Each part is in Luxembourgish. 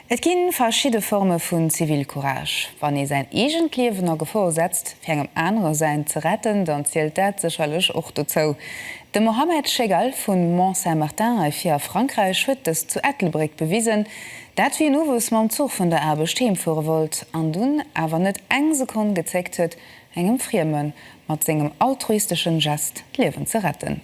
Et gi verschidde Forme vun Zivilcourage. Wann ee säin eegent Liewen a Gefor setzt, fir engem anere säint ze retten, dann zielt dat sécherlech och dozou. De Mohamed Chegal vu Mont-Saint-Martin hei vir a Frankräich huet dëst zu Ettelbréck bewisen. Dat wéi en owes mam Zuch vun der Aarbecht heemfuere wollt an dunn awer net eng Sekonn gezéckt huet, engem Frieme mat sengem altruisteschen Gest d'Liewen ze retten.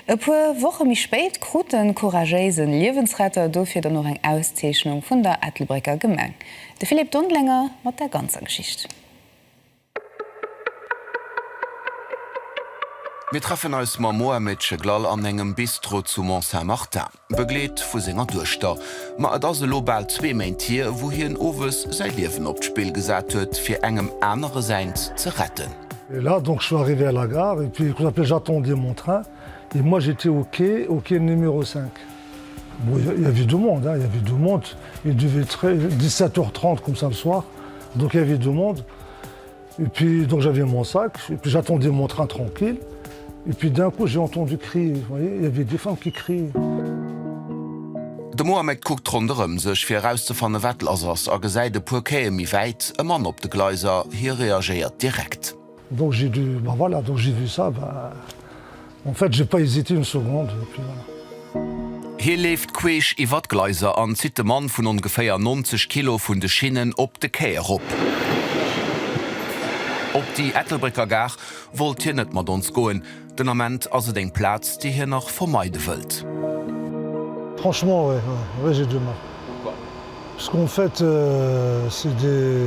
E puer Woche méi spéit krut de couragéise Liewensretter dofir dann och eng Auszeechnung vun der Ettelbrécker Gemeng. De Philippe Dondlenger mat der ganzer Geschicht. Mir treffen eis mam Mohamed Cheglal an engem Bistro zu Mont-Saint-Martin. Begleet vu senger Duechter. Ma et ass elo bal zwee Méint hier, wou hien owes säi Liewen op d'Spill gesat huet, fir engem anere säint ze retten. Et là donc je suis arrivé à la gare et puis après j'attendais mon train et moi j'étais au quai, au quai numéro 5. Bon il il y avait du monde hein, il y avait du monde, il devait être 17 heures 30 comme ça le soir, donc il y avait du monde. Et puis donc j'avais mon sac, et puis j'attendais mon train tranquille, et puis d'un coup j'ai entendu crier, vous voyez, il y avait des femmes qui criaient. De Mohamed kuckt ronderëm sech fir erauszefanne wat lass ass a gesäit e puer Quaie méi wäit e Mann op de Gleiser. Hie reagéiert direkt. Donc j'ai dû, ben voilà, donc j'ai vu ça, ben En fait, j'ai pas hésité une seconde et puis voilà. Hie leeft queesch iwwer d'Gleiser an zitt de Mann vun ongeféier 90 Kilo vun de Schinnen op de Quai erop. Op déi Ettelbrécker Gare wollt hien net mat ons goen, den Ament ass et eng Plaz, déi hien nach vermeide wëllt. Franchement, ouais, ouais j'ai du mal. Pourquoi? Parce qu'en fait, c'est des.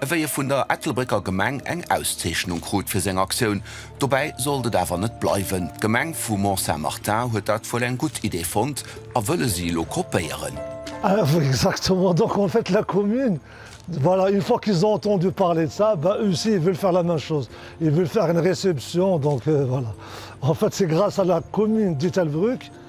Ewéi e vun der Ettelbrécker Gemeng eng Auszeechnung krut fir seng Aktioun. Dobäi sollt et awer net bleiwen. D'Gemeng vu Mont-Saint-Martin huet dat wuel eng gutt Idee fonnt a wëlle si elo kopéieren. Exactement, donc en fait la commune, voilà, une fois qu'ils ont entendu parler de ça, ben eux aussi ils veulent faire la même chose, ils veulent faire une réception, donc voilà, en fait c'est grâce à la commune d'Ettelbruck,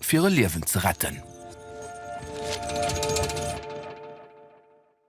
fir e Liewen ze retten.